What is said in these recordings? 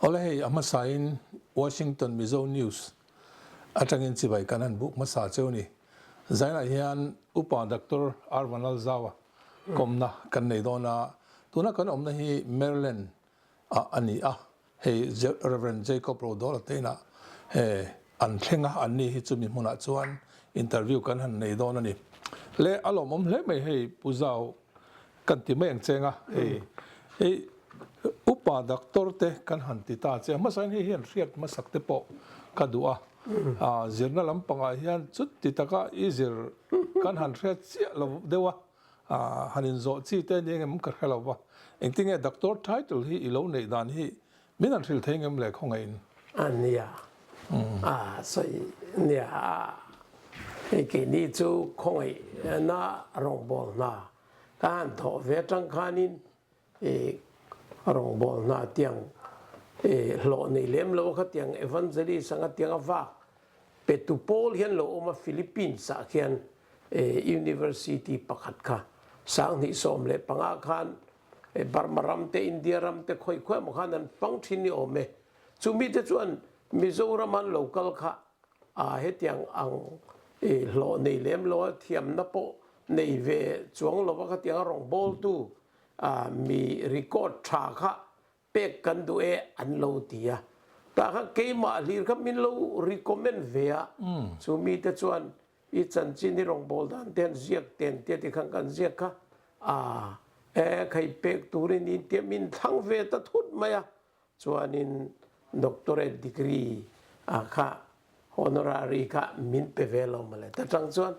Awle hei a hmasain Washington Mizo News atangin chibai kan han buh hmasa cheu ni. Zainah hian Upa Doctor Arvanal Zau-a kawmna kan nei dawn a, tuna kan awmna hi Maryland a a ni a, hei Rev. Jacob Rodawl-Ateina he an thlenga an ni hi chumi hmunah chuan interview kan han nei dawn a ni. Le a lawmawm hle mai hei Pu Zau kan ti mai ang che anga hei hei Upa Doctor te kan han ti ta che a, hmasa hian hei hian hriat hmasak te pawh ka duh a, a zirna lampangah hian chutti taka i zir kan han hriat chiah lo deuh a. Aah, han inzawh chi te a ni eng em ka hre lo va, engti nge Doctor title hi i lo neih dan hi min han hrilh thei ngem le khawngaihin? A nia, a sawi nia a, hei keini chu khawngaihna rawngbawl hna ka han thawh ve atang khanin Eii rawng bawl hna tiang eii hlawh nei lem lo kha tiang evangelist anga tiang a vak petu pawl hian lo awm a Philippines ah khian eii university pakhat kha sang hnih sawm leh panga khan eii Burma ram te India ram te khawi khuai maw khan an hmang thin ni awm e chu mi te chuan Mizoram an lo kal kha aa hetiang ang eii hlawh nei lem lo a thiamna pawh nei ve chuang lo va kha tiang a rawng bawl tu mi record tha kha pek kan duh e an lo ti a, tah kha keimah hlir kha min lo recommend ve a, chu mite chuan i chanchin i rawngbawl dan te han ziak ten tia tikhan kan ziak kha a e khei pek tur i ni intia min thlang ve ta thut mai a. Chuanin Doctorate degree ah kha Honorary kha min pe ve lo mawle. Ta tang chuan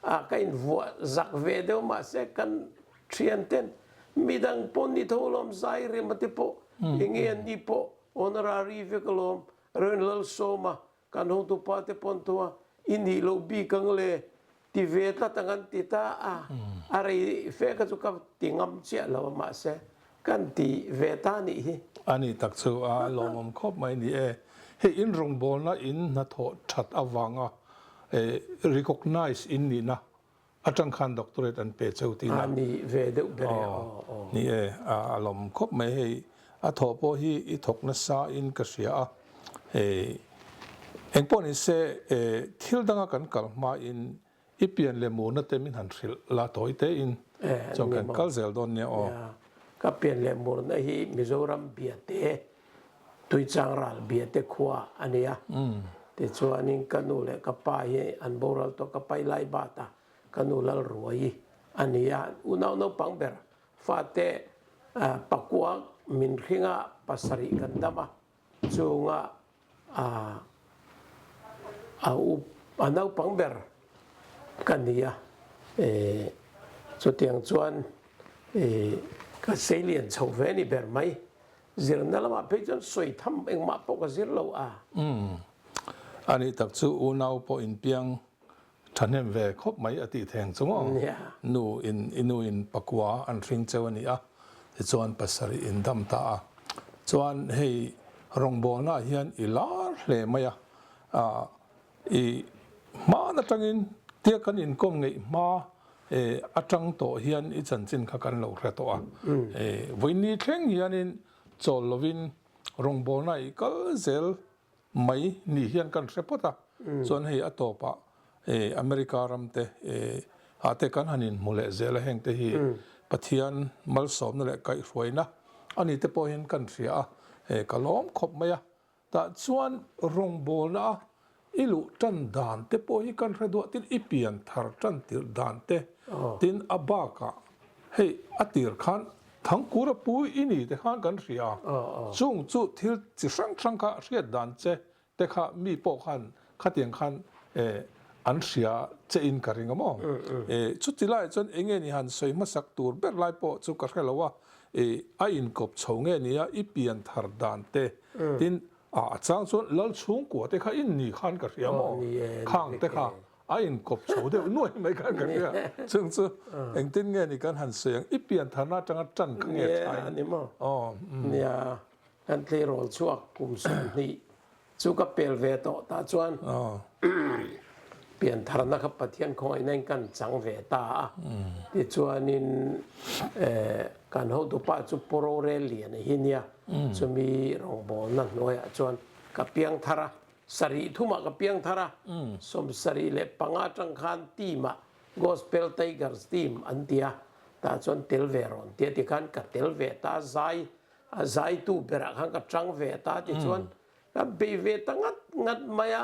ah ka in vuah zak ve deuh mahse kan thian ten midang pawn ni tho lawm zai remate pawh enge an nih pawh Honorary vek alawm rel lal sawma Kan hawngtu pate pawn thu a i nih loh bik ang le ti ve tlat ang an ti ta a, a rei feh kha chu ka ti ngam chiah lo a mahse kan ti ve ta nih hi. A nih tak chu a lawmawm khawp mai ni e. Hei in rawngbawlna in hnathawh that avanga recognize in nihna A tang khan doctorate an pe cheu tiin a. A ni ve deuh ber e aw aw. Ni e, ah a lawm khawp mai hei, a thawh pawh hi i thawk nasa in ka hria a, eh eng pawh ni se eh thil dang a kan kal hma in i pian leh mu na te min han hrilh la tawi te in eh, a ni maw? Chuan kan kal zel dawn nia aw. Ka pian leh mur na hi Mizoram bia te Tuichang ral Biate khua a nia. Tichuanin ka nu leh ka pa hi an boral tawh ka pai lai bat a, ka nu Lalruai a nia. Unau naupang ber fate Pakuak min hringa pasarih kan dam a, chunga a up a naupang ber ka ni a. Chutiang chuan ka seilian chho ve a ni ber mai. Zirna lamah phei chuan sawi tham engmah pawh ka zir lo a. Umm. A nih tak chu unau pawh inpiang thahnem ve khawp mai a tih theng chu maw? Nu in i nu in pakua an hring cheu a ni a tichuan pasarih in dam ta a. Chuan hei rawngbawlngaah hian i lar hle mai a. I hmaan atangin tia kan inkawm ngeih hma e atang tawh hian i chanchin kha kan lo hre tawh a, e vawiini thleng hianin chawl lovin rawngbawlna i kal zel mai nih hian kan hre phawt a, chuan hei a tawpah e America ram te e ahte kan han inhmu leh zel a hengte hi Pathian malsawmna leh kaihhruaina a ni te pawhin kan hria a, e ka lawm khawp mai a, Tah chuan rawngbawlna a i luh tan dan te pawh hi kan hre duah tin i pian thar tan tirh dan te tin a bakah hei a tir khan Thangkura pu i ni te khan kan hria a, chung chu thil chi hrang hrang kha a hriat dan che te kha mi pawh khan Khatiang khan eh an hria che in ka ring a maw eh chuti laiah chuan eng nge ni han sawi hmasak tur ber lai pawh chu ka hre lo a eh a inkawp chho nge ni a i pian thar dan te tin ah a chang chuan lal chhungkua te kha in ni khan ka hria maw khang te kha a inkawp chho deuh nuai mai khan ka hria chung chu engtin nge ni kan han sawi ang i pian thar na atanga tan kha nge tha in aw nia kan tleirawl chhuak kum sawm hnih Chu ka pel ve tawh tah chuan piantharna kha Pathian khawngaih na in ka chang ve ta a. Tichuanin kan hotupa chu Poro rel lian a hi nia, chumi rawngbawlna hnuaiah chuan ka piang thar a, sarih thumah ka piang thar a. Sawmsarih leh panga tang khan team-ah Gospel Tigers team an ti a, tah chuan tel ve rawn ti a, tikhan ka tel ve ta zai A zaitu berah khan ka chang ve a ta tichuan ka bei ve ta ngat ngat mai a.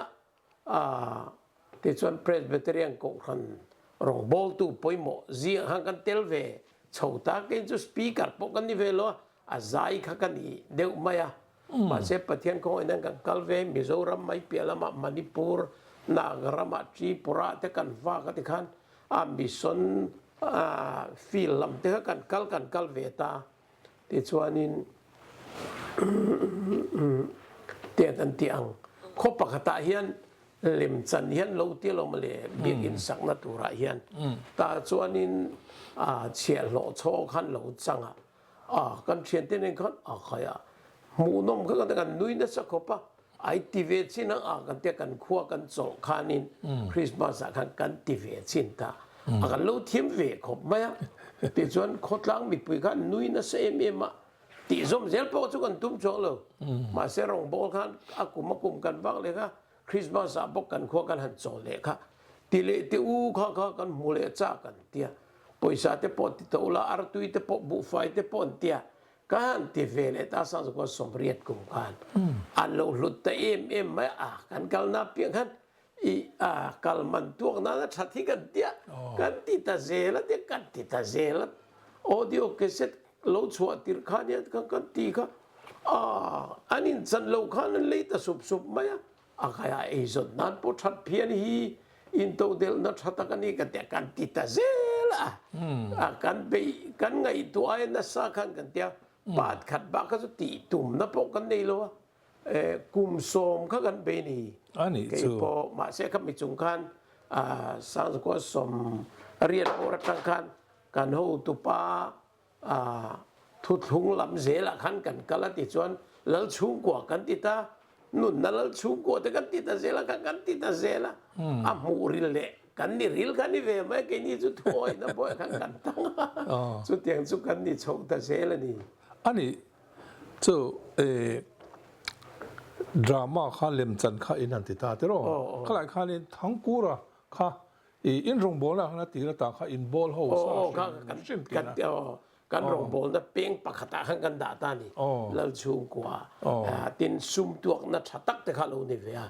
Aah. Tichuan Presbyterian Kohhran rawngbawltu pawimawh zia khan kan tel ve chho ta. Keiin chu speaker pawh kan ni ve lo a, a zai kha ka ni deuh mai a. Mahse Pathian kawng in hian kan kal ve, Mizoram mai piah lamah Manipur, Nagram ah Tripura te kan vak a ti khan a mission field lam te kha kan kal kan kal ve ta. Tichuanin tiang kan tih ang, khaw pakhatah hian lem chan hian lo tia lo mawle, biak insakna turah hian tah chuanin chhiah hlawh chhawng khan lo chang a, kan thiante nen khan a khai a, hmuhnawm kha kan nui nasa khawp a, Ai ti ve chin ang a, kan tia kan khua kan chawh khanin Christmas ah khan kan ti ve chin ta, a kan lo thiam ve khawp mai a, tichuan khawtlang mipui khan nui nasa em em a, tihzawm zel pawh chu kan tum chuang lo, mahse rawngbawl khan a kum a kum kan vak leh kha, Christmas ah bawk kan khua kan han chawh leh kha, ti leh ti u kha kha kan hmu leh chak an tia, pawisa te pawh ti tawh la, artui te pawh, buhfai te pawh an tia, Ka han ti ve leh ta sang zakua sawmriat kum khan an lo hlut ta em em mai a, kan kalna piang khan i a kal man tuak nana that hi kan tia kan ti ta zel a tia kan ti ta zel a audio cassette lo chhuah tirh khan hian khan kan ti kha a an in chan lo khan an lei ta sup sup mai a. A ngaia eizawn nan pawh that phian hi intodelhna tha tak a ni ka tia kan ti ta zel a. A kan beih kan ngaihtuah e nasa khan kan tia pat khat bak kha chu tih tumna pawh kan nei lo a. Kum sawm kha kan beih ni kei pawh mahse kha mi chung khan Sangzawkua sawm riat pawh atang khan kan hotupa A thutthlung lam zelah khan kan kal a ti chuan lal chhungkua kan ti ta, nunna lal chhungkua te kan ti ta zelah khan kan ti ta zel a, a hmuh ril leh kan ni ril khan i ve mai a, keini chu thuawihna pawh khan kan tang a, chutiang chu kan ni chho ta zel a ni. A ni chu i drama kha lemchan kha in han ti ta tiraw, khalaih khanin Thangkura kha I inrawng bawlna han a tir atang kha in ball ho sa hrim hrim tir a. Aw, kan rawng bawlna peng pakhatah khan kan dah ta a ni, lal chhungkua a, tin sum tuakna tha tak te kha a lo ni ve a,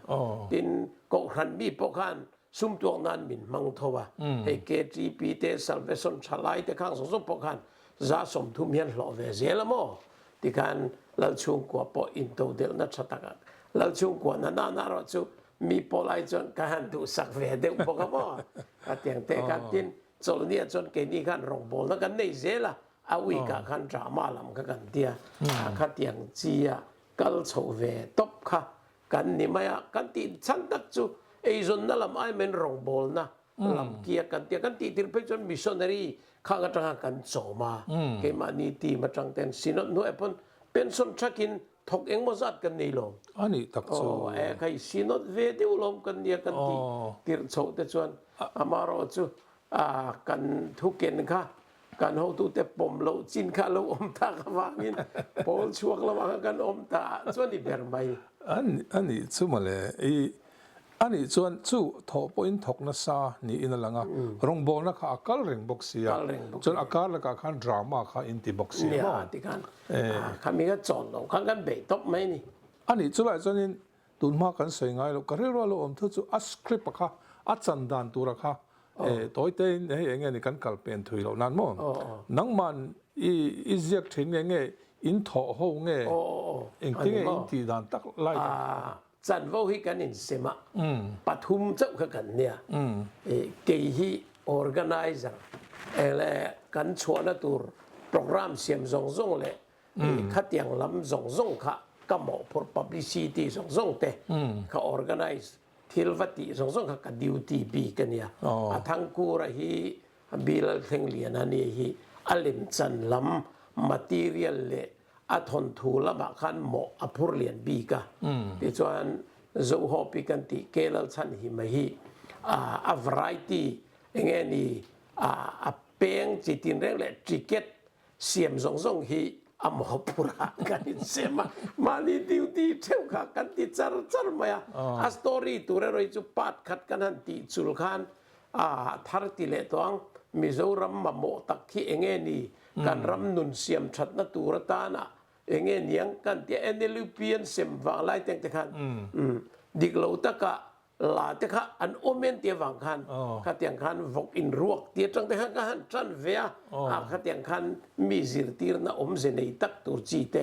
tin Kohhran mi pawh khan sum tuak nan min hmang tho a, hei KTP te, Salvation thalai te khang zawk zawk pawh khan za sawmthum hian hlawh ve zel a maw? Tikhan lal chhungkua pawh in to delhna tha tak a, lal chhungkua na nan ah erawh chu mi pawh lai chuan ka han duhsak ve deuh bawk a maw ka tiang teh khan tin Chawlhnia chuan keini khan rawngbawlna kan nei zel a, a week ah khan drama lam ka kan tia a kha tiang chi a kal chho ve tawp kha kan ni mai a, kan tih chhan tak chu eizawnna lam aimain rawngbawlna Lam kiak kan tia, kan tih tir phei chuan missionary khang atanga kan chawm a, keimahni team atang ten synod hnuaia pawn pension chak in thawk engmaw zat kan nei lawm. A nih tak chu. Aw a e khai synod ve deuh lawm kan nia kan tih tirh chhoh te chuan amaherawhchu a kan thuken kha Kan hotute pawm loh chin kha lo awm ta kha vangin pawl chhuak lamah kha kan awm ta chuan i ber mai. A nih chu mawle, i a nih chuan chu thaw pawhin thawk nasa niin a lang a, rawngbawlna kha a kal reng bawk sia, chuan a kar lakah khan drama kha in ti bawk sia maw? Nia, tikhan khami kha chawn lo khan kan bei tawp mai a ni. A nih chulaiah chuanin Tun hma kan sawi ngai lo, ka rilru a lo awm thu chu a script a kha, a chan dan tura kha eh tawite in hei enge ni kan kal pen thui loh nan maw? Nangman i i ziak thin nge nge in thaw ho nge engti nge in tih dan tak lai ka ti a. Chanvo hi kan insem a, pathum chauh kha kan nia, eh kei hi organizer eh le kan chhuahna tur programme siam zawng zawng leh Hei khatiang lam zawng zawng kha ka mawhphur publicity zawng zawng te ka organise thil va tih zawng zawng kha ka duty bik a nia. A thangkur a hi Bilal Thenglian a nih hi a lemchan lam material leh a thawnthu lamah khan mawh a phur lian bik a. Tichuan Zohawpi kan tih Kelal Chhanhima hi a variety enge ni a peng chi tinreng leh ticket Siam zawng zawng hi a maw phura kan insem a, mahni duty theuh kha kan ti char char mai a, a story tur erawhi chu part khat kan han tih chul khan a thar ti leh tawh ang, Mizoram mamawh tak khi eng nge ni, kan ram nun siam thatna tur atana eng nge niang kan tia, NLUP an sem vang lai teng te khan dik lo taka La te kha an awm em tia vang khan khatiang khan vawk in ruak tia chang te kha ka han tan ve a, a khatiang khan mi zirtirna awm ze nei tak tur chi te,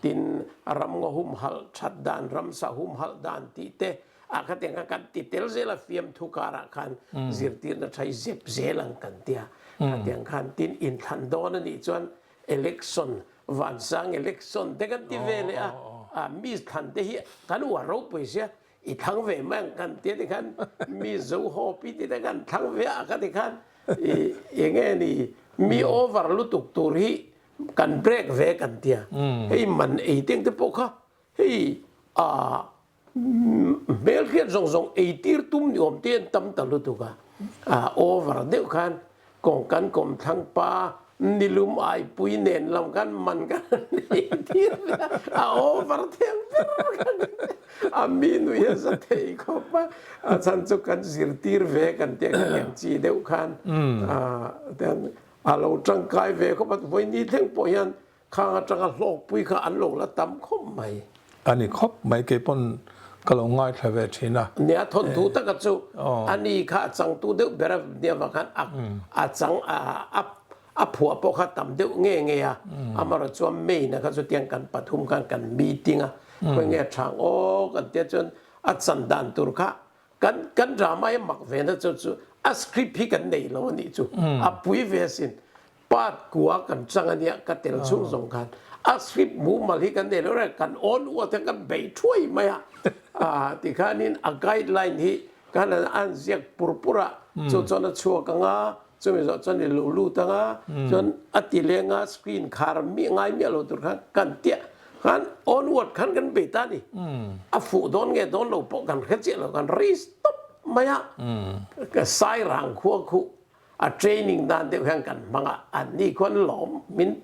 tin ramngaw humhalh that dan, ramsa humhalh dan tih te a khatiang khan kan ti tel zel a, fiamthu karah khan zirtirna thai zep zel ang kan ti a, khatiang khan tin inthlan dawn a nih chuan election vansang election te kan ti ve leh a, mi thlan te hi kan uar ropui sia. I thlang ve mai ang kan tia tikhan mi zo hawpi tite kan thlang ve a ka tikhan i enge ni mi over lutuk tur hi kan break ve kan tia hei man ei teng te pawh kha hei a hmelkhiat zawng zawng ei tir tum ni awm te an tam ta lutuk a over deuh khan Kawng kan kawm thlang pa, nilum aipui nen lam kan man ka nei tir nia, a over theng ber ka ni. A mi nui hi a za thei khawp a, a chhan chu kan zir tir ve kan tih a kan en chi deuh khan a lo tangkai ve khawp a, vawi ni thleng pawh hian Khang atanga hlawkpui kha an lo la tam khawp mai. A ni khawp mai, kei pawn ka lo ngaithla ve thin a. Nia thawn thu taka chu a ni kha a changtu deuh ber a, nia vang khan a chang a phuah pawh kha tam deuh nge nge a, amarawh chuan May na kha chutiang kan pathum khan kan meeting a, khawi nge thang aw kan tia chuan a chan dan tur kha kan kan drama hi a mak ve na chu chu a script hi kan nei lo a nih chu a pui ve asin. Pat kua kan chang a nia ka tel chhung zawng khan a script mumal hi kan nei loh reng kan awn uat hian kan bei thuai mai a tikhanin a guideline hi ka han an an ziak pur pur a chu chuan a chhuak ang a chumi zawh chuan i lo lut ang a chuan a ti leng a screen khar miah ngai miah lo tur khan kan ti a khan awn uat khan kan be ta a ni a fuh dawn nge dawn lo pawh kan hre chiah lo kan ri stawp mai a ka sai rang khua khuh A training dan deuh hian kan hmang a, an ni khuan lawm min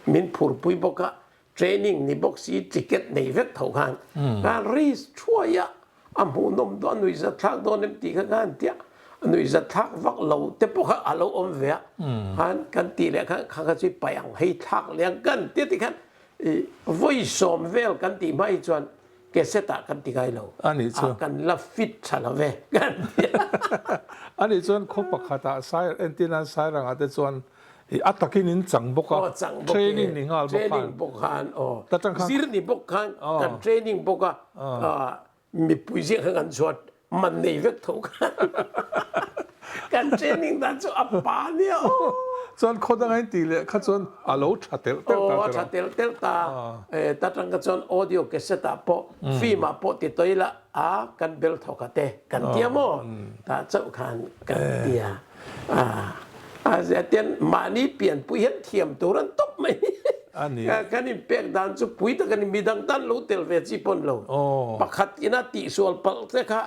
min phur pui bawk a, training ni bawk si ticket nei vek tho khan khan ris thuai a, a hmuh nawm dawn a nui zat thlak dawn em tih kha khan ti a, a nui zat thlak vak lo te pawh kha a lo awm ve a, khan kan tih leh khan kha kha chu i paih ang hei thlak liang kan ti a ti khan i vawi sawm vel kan tih hma hi chuan Cassette ah kan ti ngai lo. Ani chuan. Ah kan la fit tha lo ve kan ti a. Ani chuan khaw pakhat ah sai entin an sairang ah te chuan i a takin in chang bawk a. Aw chang bawk e. Training ni nghal bawk khan. Training bawk khan aw. Ta tang khan. Zir ni bawk khan. Aw. Kan training bawk a. Aw. Aw mipui zinga khan kan chhuat Mat nei vek tho kha kan training dan chu a pa nia aw. Chuan khaw danga in tih leh kha chuan a lo tha telh telh ta teh lo. Aw a tha telh telh ta. Ta tangka chuan audio cassette ah pawh film ah pawh ti tawi lah a kan bel thawk a te kan tia maw? Ta chauh khan kan tia. Ahh zia tian mahni pianpui hian thiam tur an tawp mai ka kan in pek dan chu pui ta kan in midang tan lo tel ve chi pawn lo pakhat in a tih sual palh che kha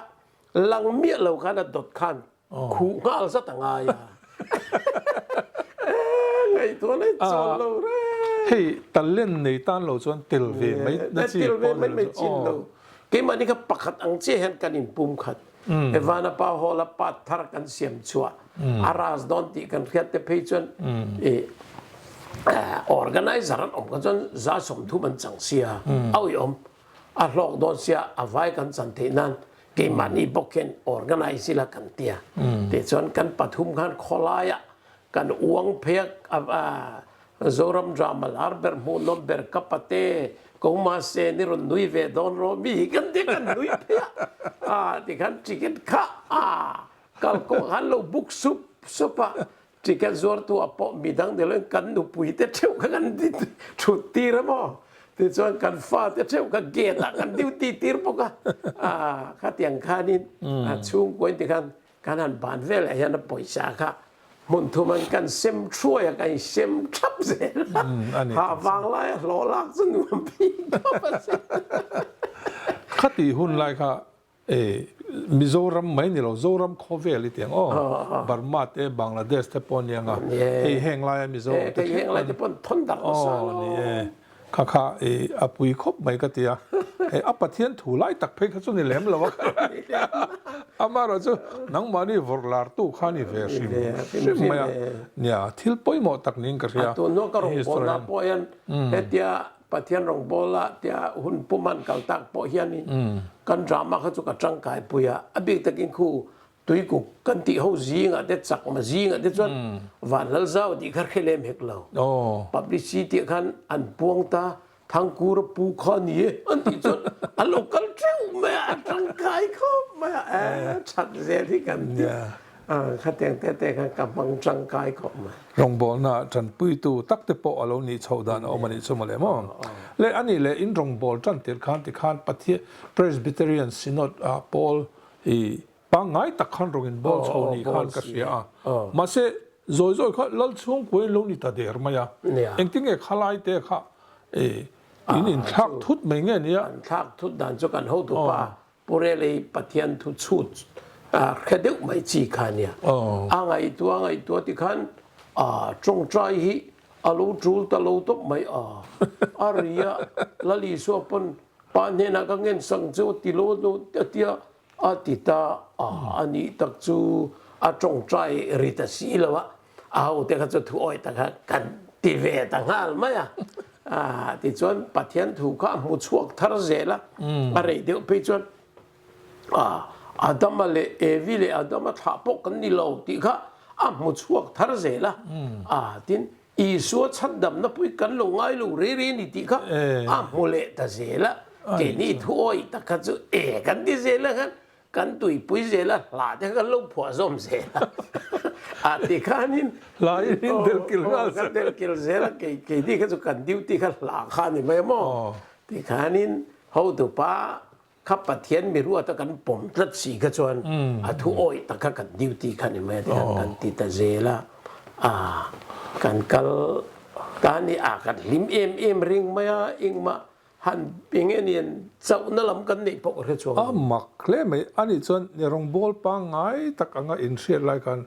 lang miah lo khan a dawt khan khuh nghal zat a ngai a eehh ngaihtuah leh chuan lo reng hei talent nei tan lo chuan tel ve mai na chi pawn lo chu aww keimah ni kha pakhat ang chiah hian kan in pum khat. Evana pa haw la pat thar kan siam chhuah a ras dawn tih kan hriat te phei chuan i organizer an awm kha chuan za sawmthum an chang sia awi awm a hlawk dawn sia a vai kan chan theih nan keimahni bawk khen organize ila kan tia tih chuan kan pathum khan khawlaiah kan uang phei a Zoram drama lar ber hmuh nawm ber ka pa te kawng mahse ni rawn nui ve dawn rawh mi hi kan ti kan nui phei a ah tikhan ticket kha ah kal kawng han lo book sup sup a ticket zuar tu a pawh mi dang nilo in kan nupui te theuh kha kan di thut tir a maw tichuan kan fa te theuh kha gate ah kan duty tir bawk a ah khatiang khan in ah chhungkaw in tikhan Kan han ban velah hian a pawisa kha hmun thum an kan sem thruai a, kan insem thap zel a, hah vang lai a hlawh lak chu nuam phik deuh a si. Khati hun lai kha e Mizoram mai nilo, Zoram khawvel i ti ang aw, Burma te Bangladesh te pawh a ni ang a, hei heng laia Mizoram te thleng pawh a ni e. Kha kha i a pui khawp mai ka tia, he a Pathian thu lai tak phei kha chu ni lem lo a kha ka ti a, amaherawh chu nangmahni vawr lartu khan i ve hrim hrim mai a nia, thil pawimawh tak niin ka hria. Tun ah ka rawn bawl ah pawh hian hetia Pathian rawn bawl a tia hun pum han kal tak pawh hian in kan drama kha chu ka tangkai pui a, a bik takin khu Tuikuk kan tih ho zingah te, chakma zingah te chuan van lal zau a tih kha hre lem hek lo. Publicity ah khan an puang ta, Thangkura pu kha ni e an tih chuan a lo kal teuh mai a, a tangkai khawp mai a, eh chhat zel hi kan ti a, khatiang te te khan ka hmang tangkai khawp mai. Rawngbawlna ah tanpui tu tak te pawh a lo nih chhoh dan a awm a nih chu mawle maw? Le, a nih leh in rawngbawlh tan tirh khan tikhan Pathian, Presbyterian Synod ah Paul, Pangngai tak khan rawn inbawl chho ni khan ka hria a, mahse zawi zawi kha lal chhungkua in lo ni ta der mai a, engti nge khalai te kha in inthlak thut mai nge nia? Kan thlak thut dan chu kan hotu pa Pu Relei Pathian thu chhut hre deuh mai chi kha nia, a ngaihtuah a ngaihtuah tikhan tawngtai hi A lo tul ta lo tawp mai a. A ri a, Lalisua pawn pa hnenah ka ngen sang che aw ti law dawn a tia a ti ta a. A nih tak chu a tawngtai ri ta si lo a, a hote kha chu thu awih taka kan ti ve ta nghal mai a. Tichuan Pathian thu kha a hmu chhuak thar zel a, a rei deuh phei chuan. A, Adama leh Evi leh Adama thlah pawh kan ni lo tih kha a hmu chhuak thar zel a. A, tin, Isua chhatdamna pui kan lo ngai lo rei rei a ni tih kha a hmu leh ta zel a. Keini thu awih tak kha chu e kan ti zel a khan kan tuipui zel a, hlah te kha kan lo phuah zawm zel a. A tikhanin, aw, kan delkil zel a, kei, keini kha chu kan duty kha hlah kha a ni mai a maw? Tikhanin, hotupa Kha Pathian mi ruata kan pawm tlat si kha chuan a thu awih taka kan duty kha ni mai a tih hian kan ti ta zel a, ah kan kal ta nia ah kan hlim em em reng mai a, engmah han eng nge nen chauhna lam kan neih pawh ka hre chuang lo. A mak hle mai, ani chuan ni rawng bawl pangngai tak anga inhriat lai khan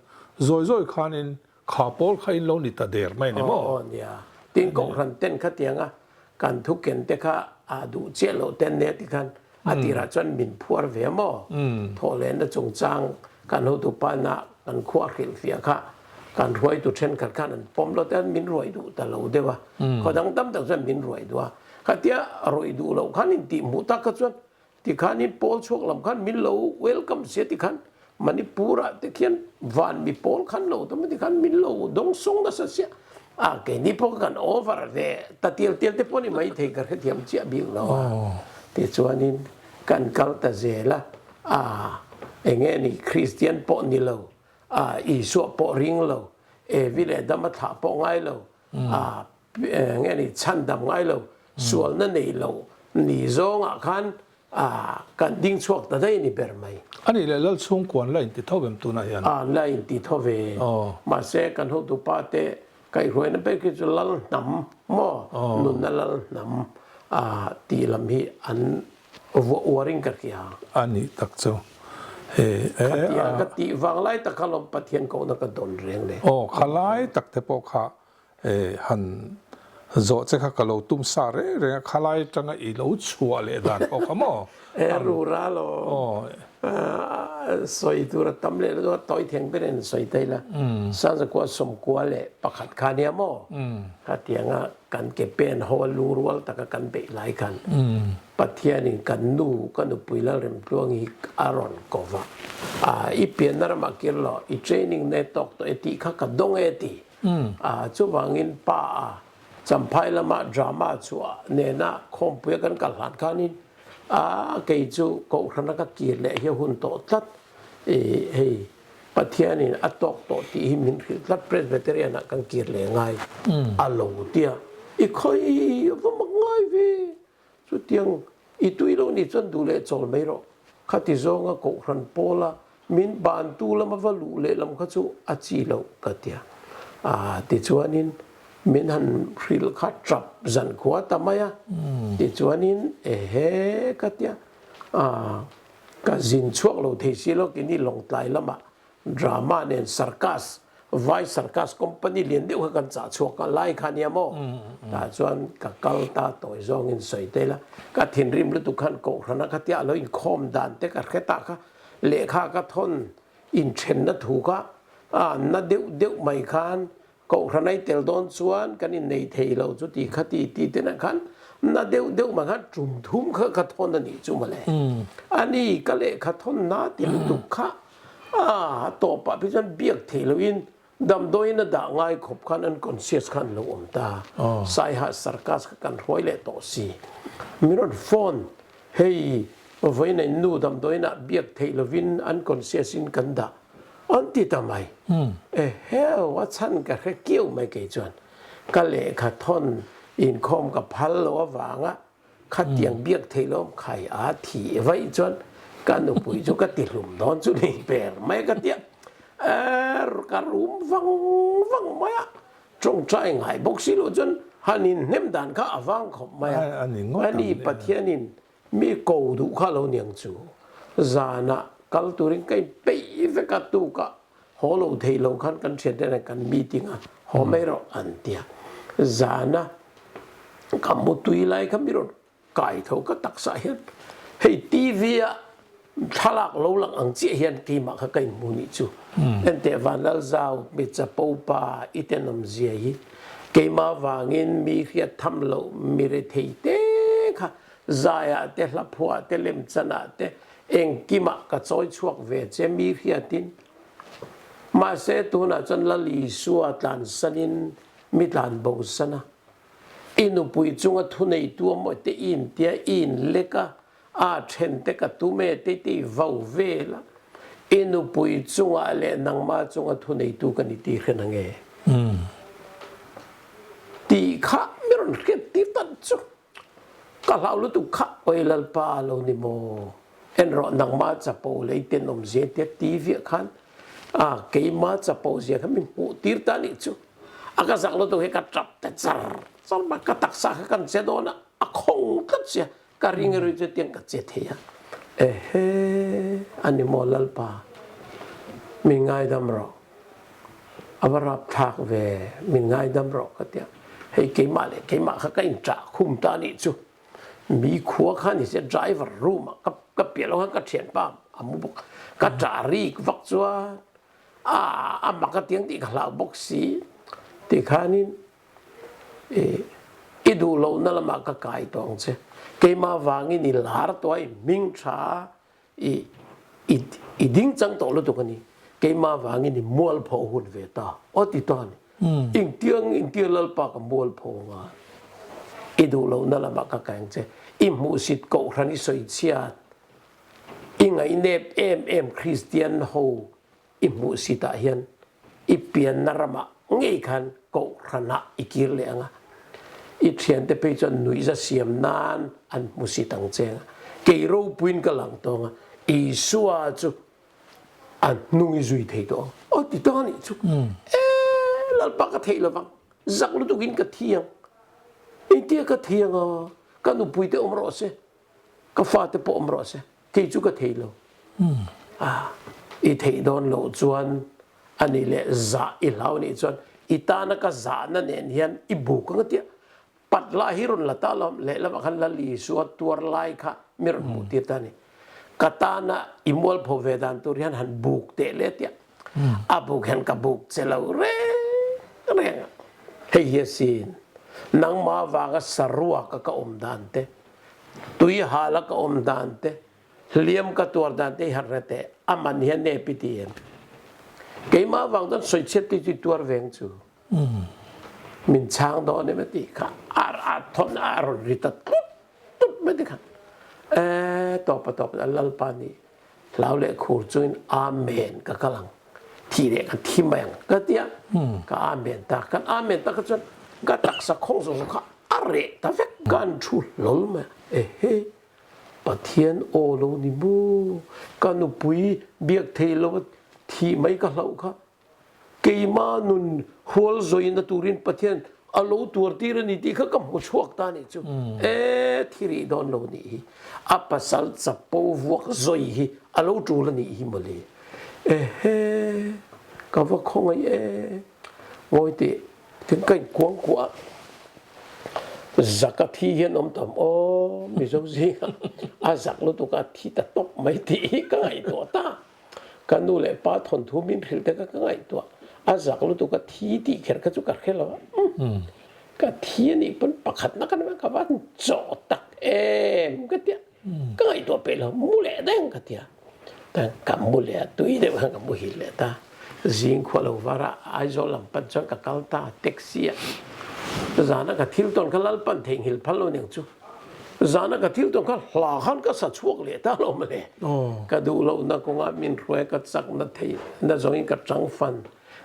zawi zawi khanin Kha pawl kha in lo ni ta der mai ni maw? Aw aw nia, tin kawnghren ten kha tiang a, kan thuken te kha aa duh chiah loh te an nia ti khan a tirah chuan min phuar ve maw? Thawhlehna chungchang kan hotu pa ina kan khuaa hrilhfiah kha kan hruaitu thenkhat khan an pawm loh te, min ruai duh ta lo deuh a, khaw dang tam tak chuan min ruai duh a, khatia ruai duh loh khan intih hmuh tak kha chuan Tikhanin Pawl chhuak lam khan min lo welcome sia tikhan Manipura te khian van mi Pawl khan lo tawm tikhan min lo dawng sawng nasa sia. A keini pawh ka kan over ve ta tial tial te pawh ani maithei ka hrethiam chiah bik lo a tichuanin kan kal ta zel a a enge a nih Kristian pawh ni lo a Isua pawh ring lo Evi leh Dama thlah pawh ngai lo a nge ni chhan dam ngai lo sualna nei lo ni zawng ah khan a kan ding chhuak ta daih ni ber mai. A nih leh lal chhungkua an la in ti tho em tunah hian. A an la in ti tho ve mahse kan hotu pa te kaihhruaina ber khi chu lal hnam maw nunna lal hnam a tih lam hi an Vua uaring ka hria. A nih tak chu he e a. Khatiang a ka tih vang lai tak kha lawm Pathian kohna ka dawn reng le. Aw khalai tak te pawh kha e han zawh che kha ka lo tum sa reng reng a khalai atanga i lo chhuah leh dan pawh kha maw e a rural awm a sawi tur a tam leh dawn a tawi theng ber in an sawi daih la Sanzakua sawmkua leh pakhat kha nia maw khatiang a. Kan ke pen ho a lu rual taka kan beih lai khan Pathianin kan nu ka nupui Lalrem Tluang hi a rawn ko va. I pianna ramah kir lo, i training nei tawk tawh e tih kha ka dawng e ti. Chuvangin pa a Champhai lama drama chhuah nena khawmpuia kan kal hlan khanin kei chu Kohhran a ka kir leh hi a hun tawh tlat. Hei Pathianin a tawk tawh tih hi min hrilh tlat Presbyterian-ah kan kir leh ngai a lo tia i khawi a va mak ngai ve. Chutiang i tui lo nih chuan duh leh chawl mai rawh. Khati zawnga Kohhran Paula min bantu lam a va luh lehlam kha chu a chi lo ka tia. Aa tichuanin min han hrilh kha tap zan khua ta mai a. Tichuanin ehe ka tia. Aa. Ka zin chhuak lo thei si lo keni lawngtlai lama drama nen circus vai circus company lian deuh kha kan chah chhuak a lai kha nia maw? Tah chuan ka kal ta tawi zawngin sawi ta ila ka thinrim lutuk khan kohhrana khatia a lo inkhawm dan te ka hre ta kha lehkha ka thawn inthenna thu kha a na deuh deuh mai khan Kohhran a i tel dawn chuan kan innei thei lo chu tih kha ti ti ten ah khan na deuh deuh mah khan tum thum kha ka thawn a nih chu mawle. A ni, ka lehkha thawn na tih lutuk kha a tawp pah phei chuan biak thei lo in damdawiin a dah ngai khawp khan unconscious khan lo awm ta. Saiha sarcus kha kan hruai leh tawh si. Min rawn phone. Hei vawiin a innu damdawina biak theih lovin an conscience-in kan dah awn ti ta mai. E hell, a chhan ka hre kiau mai kei chuan. Ka lehkha thawn inkhawm ka phal loh avanga khatiang biak theih lawm khai a thi vaih chuan ka nupui chu ka tihlum dawn chu nei ber mai ka tia. Err, ka rum vang vang mai a. Ṭawngṭha i ngai bawk si lo chuan han inhnem dan kha a vang khawp mai a, a ni Pathianin mi ko duh kha a lo niang chu. Zanah kal turin ka in peih vek a, tuka haw lo thei lo khan kan ṭhianten ah kan meeting a haw mai rawh an tia. Zana ka hmu tui lai kha mi rawt Kai tho ka taksa hian hei TV a thlalak lo lang ang chiah hian keimah kha ka in hmu nih chu. Enteh van Lalzau hmeichhe po pa i tenawm zia hi keimah vangin mi hriat tham loh mirethei te kha zaiah te hlaphuah te lemchanah te engkimah ka chawi chhuak ve che mi hriatin. Mahse tunah chuan Lal Isua tlansanin mi tlanbo sana I nupui chunga thuneitu amawihtei i intia i inlek a, aa then te ka tum e tei tei vo vel a, i nupui chunga leh nangma chunga thuneitu ka ni tihriat ang e tih kha min rawn hriat tir ta chu. Ka hlau lutuk kha Awi Lalpa lo ni maw? Enrawh nangma chapo lei ten awmzia tia ti viah khan A, keima chapo zia kha min hmuh tir ta nih chu, a ka zak lutuk hi ka tap ta char char bawk, ka taksa kha kan che dawn a, a khawng tlat zia, ka ring erawh hi chutiang ka che thei a, Ehe, a ni maw Lalpa, min ngaidam rawh, a va rapthlak ve, min ngaidam rawh ka ti a, hei keimah leh keimah kha ka inṭah khum ta nih chu. Mi khua khan ni se driver room ah ka piah lo khan ka thian pam a mu bawk. Ka ta rik vak chuan ah a mak atiang tih ka hlau bawk si ti khanin i duh lohna lamah ka kai tawng che. Keimah vangin i lar tawh a i hming tha a. i ding chang tawh lutuk a ni. Keimah vangin i mual pho hun ve ta aw ti ta a ni. Engtiang engtir Lalpa ka mual pho anga i duh lohna lamah ka keng che. I hmuhsit kohhran i sawi chhiat. I ngaihnep em em Kristian ho. I hmuh si tah hian i pianna ramah ngei khan Kohhranah i kir leh ang a. I thiante phei chuan nuihza siam nan an hmu si tang che ang a. Kei ropuiin ka lang tawng a, Isua chu a hnung i zui thei tawh ang. Aw ti tawng a nih chu. E, Lalpa ka theih lo vang, zak lutuk in ka thi ang. Engtia ka thi ang a, ka nupuite awm rawh se. Ka fate pawh awm rawh se, kei chu ka thei lo. A, i theih dawn loh chuan a ni leh zah i hlau nih chuan i tana ka zahna nen hian i bu ka ngatia. Pat lah hi rawn la ta lo am, lehlamah khan lal Isua tuar lai kha min rawn hmuh tir ta a ni. Ka tana i mualpho ve dan tur hian han buk teh le tia. A buk hian ka buk che lo reng reng a. Hei hi asin, nangma vanga saruaka ka awm dan te. Tui hal a ka awm dan te, hliam ka tuar dan te hi han hre teh. A man hian nge pi ti em? Keimah vang chuan sawi chhiat tui chu tuar veng chu min chhang dawn em a tih kha a thawn a rawn ri ta tut tut mai te khan. Eee tawpa tawpa a Lalpa nih Hlau leh khur chuin Amen ka kal ang. Thi leh ka thi mai ang ka ti a, ka Amen ta a. Kan Amen tak a chuan ka taksa khawng zawk zawk kha a reh ta vek. Kan thu hlawl mai a, ehe, Pathian aw lo ni maw? Ka nupui biak thei lo a, thih mai ka hlauh kha Keima nun hual zawina turin Pathian a lo tuar tir a ni tih kha ka hmu chhuak ta nih chu e thi rih dawn lo nih hi a pasal chapo vuak zawi hi a lo tul a nih hi mawle. Ehe, ka va khawngaih e. Ngawi teh, tin ka inkuang kuah a. Zaka thi hian awm ta awm aw, Mizo zinga a zak lutuk a thi ta tawp mai tih hi ka ngaihtuah ta. Ka nu leh pa thawnthu min hrilh te ka ka ngaihtuah. A zak lutuka thi tih kher kha chu ka hre lo a. Umm! Ka thi a nih pawn pakhat nak a nih ang ka va chawh tak em! Ka ti a. Ka ngaihtuah peih lo, mu leh daih ang ka ti a. Tan ka mu leh a, tui deuh hian ka mu hil leh ta. Zing khuah lo var a Aizawl lam pan chuan ka kal ta taxi ah. Zana ka thil tawn kha Lalpan theihnghilh phal lo ni ang chu. Zana ka thil tawn kha hla khan ka sa chhuak leh ta lo mawle. Ka duh lohna kawnga min hruai ka chak na thei na zawngin ka chang fan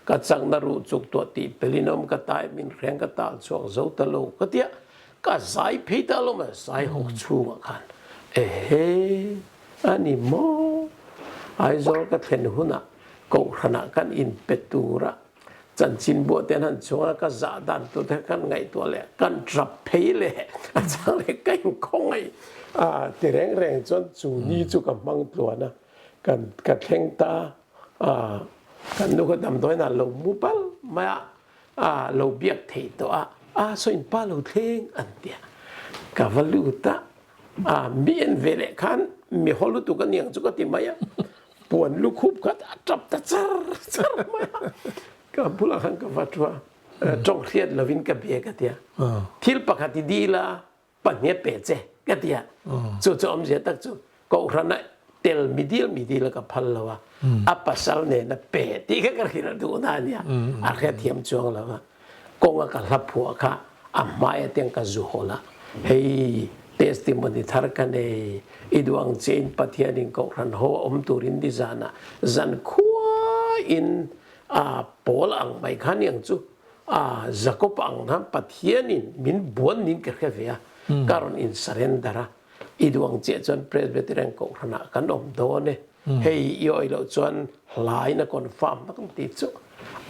ka chak na ruh chuk tuah tih pelin awm ka taia min hreng ka tal chhuak zo ta lo ka tia ka zai phei ta lo mawle zai hawk chhungah khan ehe a ni maw? Aizawl ka thlen hunah Kohhranah kan in pe turah Chanchin buahte han chunga ka zah dantute kan ngaihtuah leh kan rap phei leh a chang leh ka inkhawngaih a ti reng reng chuan chu ni chu ka hmang tluan a kan ka thleng ta a kan nu kha damdawiinah lo mu bal mai a a lo biak theih tawh a a sawi in pa lo thleng an ti a ka va lut a A bian ve leh khan mi haw lutuk aniang chu ka ti mai a, puan lukhup kha a tap ta char char mai a, ka bulah khan ka va thu a, tawng hriat lovin ka bia ka ti a, thil pakhat i dil a pahniha peh che ka ti a, chu chu awm zia tak chu Kohhranah tel mi dil mi dil a ka phal lo a, a pasal nena peh tih kha ka rilh a duhna ania a hriat thiam chuang lo a. Kawnga ka hla phuah kha a hmai atiang ka zu hawn a, hei testimony thar ka nei, i duh ang che in Pathian in Kohhran ho a awm tur in ni zan a zan khuaa in a pawl ang mai kha ni ang chu a Jacob ang khan Pathian in min buan min ka hre ve a, ka rawn in surrender a, i duh ang che chuan Presbyterian Kohhran ah kan awm dawn e. Hei i awih loh chuan hlai na confirm tak ang tih chu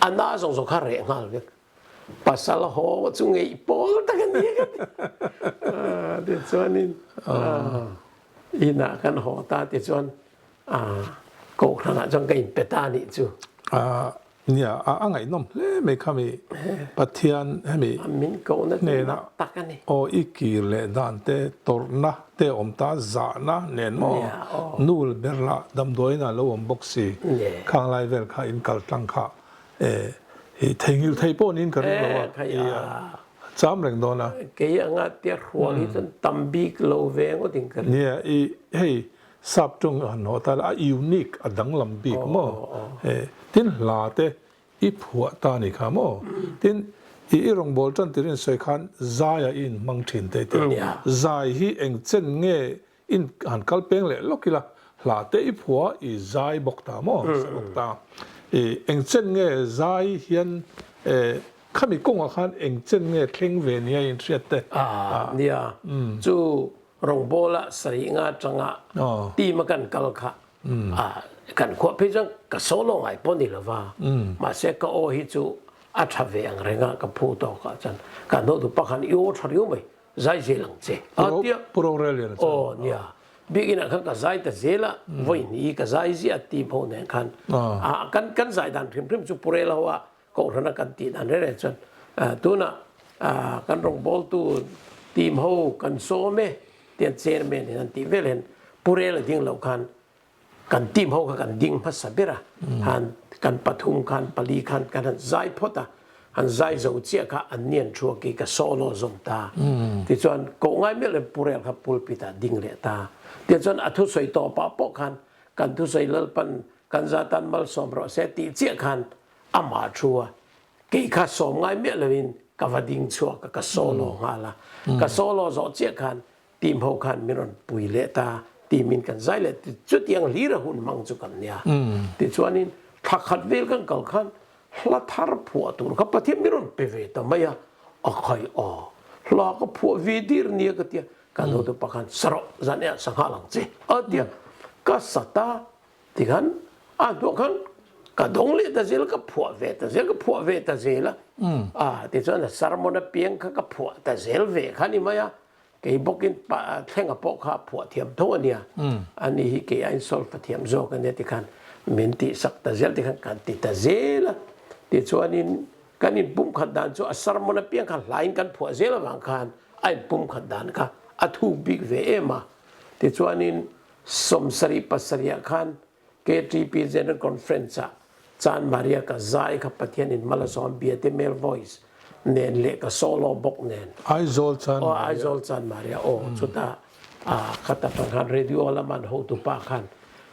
a na zawk zawk kha reh nghal vek. Pasal haw chu ngeih pawl tak a ni ka ti. Tichuanin inah kan haw ta tichuan kohhranah chuan ka inpe ta a nih chu. Nia, a a ngaihnawm hle mai kha mi Pathian hemi hnena aw i kir leh dan te, tawrhna te awm ta zahna nen maw? Nul ber la, damdawiin a lo awm bawk si. Khanglai vel kha in kal tlang kha hi theihngilh theih pawh niin ka ring lo a, i a cham reng dawn a. Kei anga tia hruang hi chuan tam bik lo ve ngawt in ka ring. Nia, i hei Sap ṭawng a hnawh ta le a unique a danglam bik maw e tin hla te i phuah ta ni kha maw tin i i rawn bawl ṭan tir in sawi khan zai a i in hmang ṭhin ta i ti a zai hi eng chen nge in han kal peng leh lawk ila hla te i phua i zai bawk ta maw i sa bawk ta i eng chen nge zai hian e khami kawng ah khan eng chen nge thleng ve nia in hriat te a nia chu Rawngpawla sarih nga tanga team a kan kal kha a kan khuah phei chuan ka solo ngai pawh ni lova mahse ka aw hi chu a tha ve ang reng a ka phu tawk ah chuan kan no tu pakhan i aw tha riau mai zai zel ang che a ti a Pu Roreliana chuan aw nia biakinah khan ka zai ta zel a vawiin i ka zai ziah a ti pho nen khan a kan kan zai dan hrim hrim chu Pu Rela hoa Kohhranah kan tih dan reh reh chuan tunah kan rawngbawltu team ho kan sawm e tian chairman in an tih vel hian pu rel a ding loh khan kan team ho kha kan ding hmasa ber a, han kan pathum khan pali khan kan han zai phawt a, han zai zo chiah kha an nian thu a ki ka solo zawm ta tichuan koh ngai melh em pu rel kha pulpit ah ding leh ta tiah chuan a thusawi tawpah pawh khan kan thusawi Lalpan kan za tan malsawm rawh se tih chiah khan Amah thu a, kei kha sawm ngai miah loin ka va ding chhuak a, ka solo nghal a. Ka solo zawh chiah khan, Tihmau khan min rawn pui leh ta, timin kan zai leh ti, chutiang hlir a hun hmang chu kan nia. Tichuanin, thla khat vel kan kal khan, hla thar phuah tur kha Pathian min rawn pe ve ta mai a, a khai a, hla ka phuah ve dir nia ka tia, ka naute pa khan, Sa rawh, zan eah sa nghal ang che, a tia. Ka sat a, Tikhan a hnuah khan ka dawng leh ta zel, ka phuah ve ta zel, ka phuah ve ta zel a, a tichuan a sermon a piang kha ka phuah ta zel ve kha a ni mai a, kei bawkin pa thlenga pawh kha a phuah thiam tho a nia, ani hi kei a insult ta thiam zawk a nia tikhan min tih sak ta zel tikhan kan ti ta zel a, tichuanin kan in pumkhat dan chu a sermon a piang kha hlaiin kan phuah zel avang khan a in pumkhat dan kha a thuk bik ve em a, tichuanin Sawm sarih pasarihah khan KTP General Conference ah Chan Maria ka zai kha Pathian in hmalasawm a biate male voice nen leh ka solo bawk nen. Aizawl Chan Maria. Aw Aizawl Chan Maria aw chuta a kha ta tan khan radio lam an hotu pa khan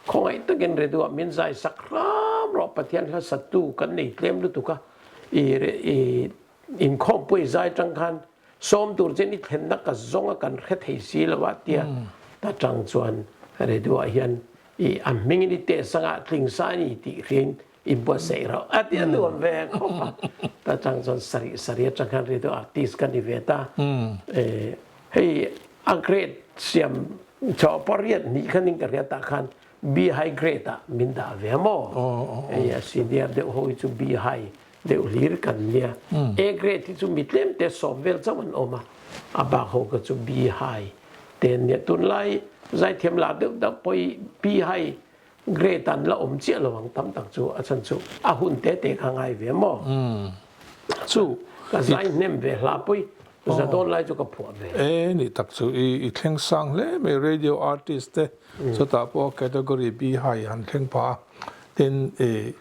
khawngaih takin radio ah min zai sak hram rawh Pathian hlasattu kan nei tlem lutuk a i Inkhawmpuii zai tang khan sawm tur che ni thlenna ka zawng a kan hre thei si lo a tia ta tang chuan Redu ah hian i a hming in i teh sang a tling sa ani tih hriain i buat sa irawh a tia nuam ve khawp a ta tang chuan sarih sarih atang khan Redu ah tis ka ni ve ta e hei a grade siam chawh pariat hnih khan in ka hria ta khan Bihai grade ah min dah ve a maw? Hei a senior deuh ho hi chu bihai deuh hlir kan nia. A grade hi chu mi tlem te sawm vel chauh an awm a, a bak ho ka chu bihai te an nia. Tunlai zaithiam la deuh deuh pawh hi bihai grade ah an la awm chiah lo ang tam tak chu a chhan chu a hun te te kha a ngai ve a maw? Chu i. Ka zai hnem ve hla pui. Za dawn lai chu ka phuah ve. E nih tak chu i i thleng sang hle mai radio artist te chutah pawh category bihai han thleng pha a. Tin i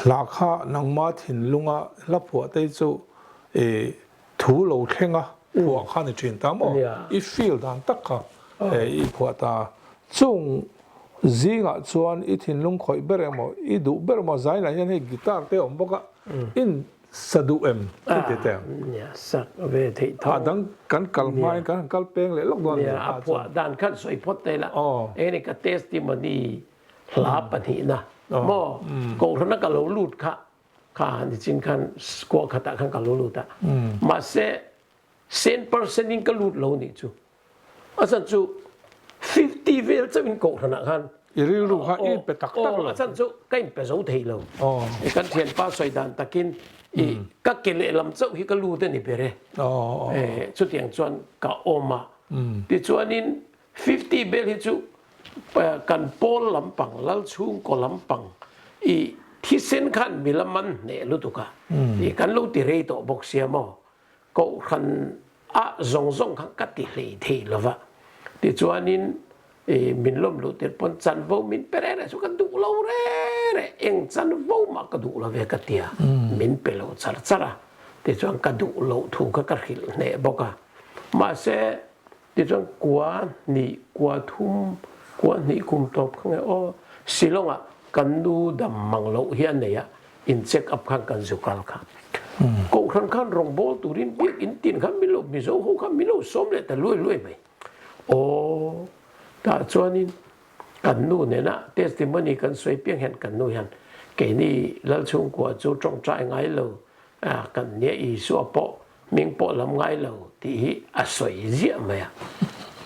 hla kha nangma thinlunga hla phuah te chu i thu lo thlenga phuah khan i thin ta maw? I feel dan tak kha i phuah ta. Chung zingah chuan i thinlung khawih ber emaw i duh ber emaw zai lah hian hei guitar te a awm bawk a. in sa duh em ka ti teh ang. Nia sak ve theih tho. A dang kan kal hmain kan han kal peng leh lawk dawn ania a phuah dan khan sawi phawt ta ila engin ka testimony hla pahnih na maw kawnghren a ka lo lut kha kha ni chin khan kua khatah khan ka lo lut a mahse Cent per cent in ka lut lo nih chu. A chhan chu fifty vel chauh in kohhran ah khan. I rilru kha i pe tak tak lo. A chhan chu ka in pe zo thei lo. I kan thianpa sawi dan tak in i ka ke leh lam chauh hi ka lut a ni ber e. Chutiang chuan ka awm a. Tichuan in fifty vel hi chu kan pawl lampang, Lalchhungkaw lampang i thisen khan mi lam an hneh lutuk a kan lo ti rei tawh bawk sia maw? Kohhran a zawng zawng kha ka ti hlei thei lo va. Tichuanin i min lawmhluh tir pawn chanvo min pe reh reh chu ka duh lo reh reh, eng chanvo mah ka duh lo ve ka tia min pe lo char char a, tichuan ka duh loh thu kha ka hrilh hneh bawk a. Mahse Tichuan kua hnih kua thum, kua hnih kum tawp kha nge aw, Shillonga kan nu dam mang loh hi a nei a, in check up khan kan zu kal kha. Kohhran khan rawngbawl turin biakin tin kha milo mizo ho kha milo sawm leh ta luai luai mai. Aw, tah chuanin kan nu nena testimony kan sawi piang hian kan nu hian, Keini lal chhungkua chu tawngtai ngai lo, kan nia Isua pawh Ming pawh lam ngai lo tih hi a sawi ziah mai a,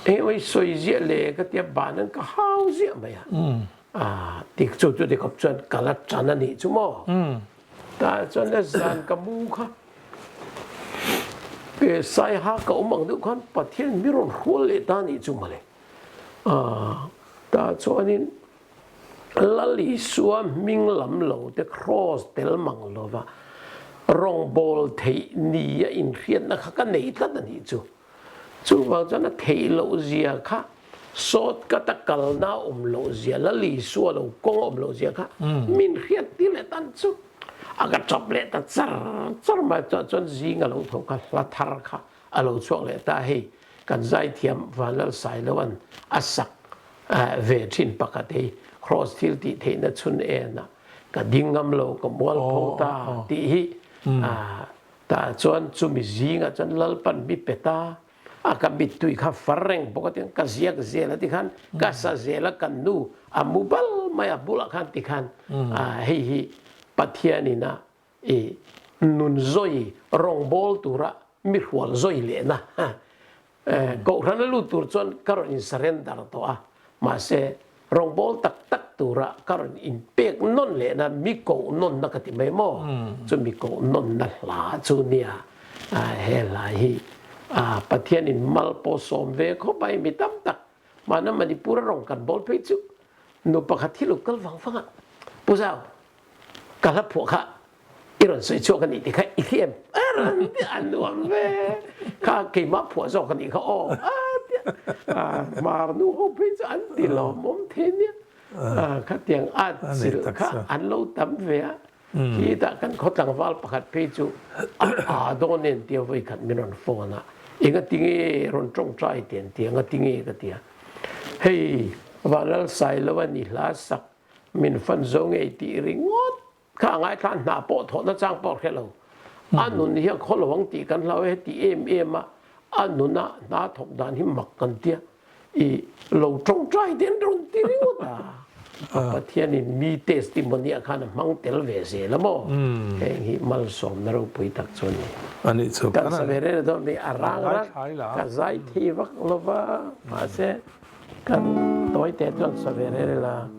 eng emaw i sawi ziah le ka tia ban an ka hau ziah mai a, ah tih chu chutiang khawp chuan ka la tan a nih chu maw? Tah chuan la zan ka mu kha Saiha ka awm ang deuh khan Pathian mi rawn hrual leh ta nih chu mawle, ah tah chuan in Lal Isua hming lam lo te Kraws tel mang lova rawngbâwl theih ni a inhriatna kha ka nei tlat a nih chu. Chuvang chuan a theih lohzia kha, sawtkhat a kalna a awm lohzia, Lal Isua lo kawng a awm lohzia kha min hriat ti leh tan chu. A ka chawp leh ta char char mai chuan chuan zing a lo tho kha hla thar kha. A lo chhuak leh ta hei kan zaithiam Vanlal Sailoan a sak ve thin pakhat hei Kraws thil tih theihna chhun en ah ka ding ngam lo ka mual pho ta tih hi tah chuan chumi zing ah chuan Lalpan mi peta a ka mittui kha far reng bawk atin ka ziak zel a tikhan ka sa zel a kan nu a mu bal mai a bulah khan tikhan hei hi Pathian in a I nun zawi rawng bawl tura mi hrual zawi lehna kohhrana lut tur chuan ka rawn in surrender tawh a, mahse rawng bawl tak tak tura ka rawn in pek nawn lehna mi koh nawnna ka ti mai maw? Chumi koh nawnna hla chu nia he hlai hi Pathianin mal pawh sawm ve khawp ai mi tam tak Mahna Manipur a rawn kan bawl phei chu nu pakhat hi lo kal vang vang a, Pu Zau, ka hla phuah kha i rawn sawi chhuak a nih tikha i thli em? A rawn ti a nuam ve. Kha keimah phuah zawk a nih kha aw a ti a. A hmar nu ho phei chu an ti lawmawm thei nia. Khatiang a chilh kha an lo tam ve a. Khi tah kan khaw tlangval pakhat phei chu a aa dawn en tia vawikhat min rawn phone a, enga tinge rawn tawngtai ten tia anga tinge ka tia. Hei va lalsai lo a ni hla sak, min fan zo ngei tih ringawt kha a ngaithla hna pawh thawh na chang pawh hrelo. A nun hi a khaw lo ang tih kan hlau e, heti em em a a nuna hna thawk dan hi mak kan tia. I lo ṭo ṭai te an rawn ti ringawt a, a Pathianin mi testimony a khan a hmang tel ve zel a maw? Heng hi malsawmna ropui tak chu a ni. A nih chu. Kan sa ve reng dawn mi a rang rang ka zaithei vak lo va, mahse kan tawi te chuan sa ve reng reng la.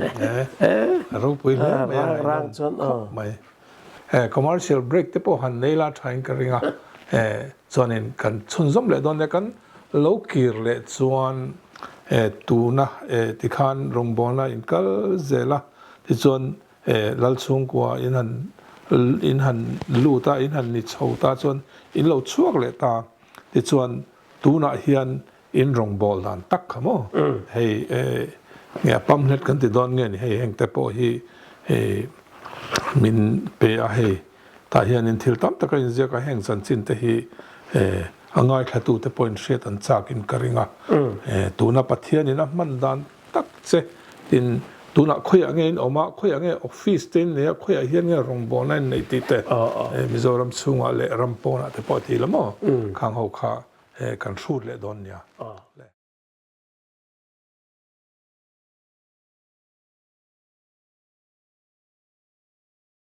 Eeh, a ropui hle mai a ngaih nawm khawp mai. Eeh, commercial break te pawh han nei la thain ka ring a, eeh, chuanin kan chhun zawm leh dawn nia, kan lo kir leh chuan eeh tuna eeh tikhan rawngbawlna in kal zel a, tichuan eeh lal chhungkua in han in han lut a, in han ni chho ta chuan in lo chhuak leh ta, tichuan tunah hian In rawn bawl dan tak kha maw? Hei nge a pam hlet kan ti dawn nge ni hei heng te pawh hi hei min pe a hei tah hian in thil tam tak a in ziak a heng chanchin te hi a ngaithla tu te pawh in hriat an chak in ka ring a tuna Pathian in a hman dan tak che tin tunah khawiah nge in awm a khawiah nge office te in nei a khawiah hian nge rawn bawl na in nei tih te Mizoram chhungah leh ram pawnah te pawh a ti hlawm maw khang ho kha He kan hrut leh dawn nia le.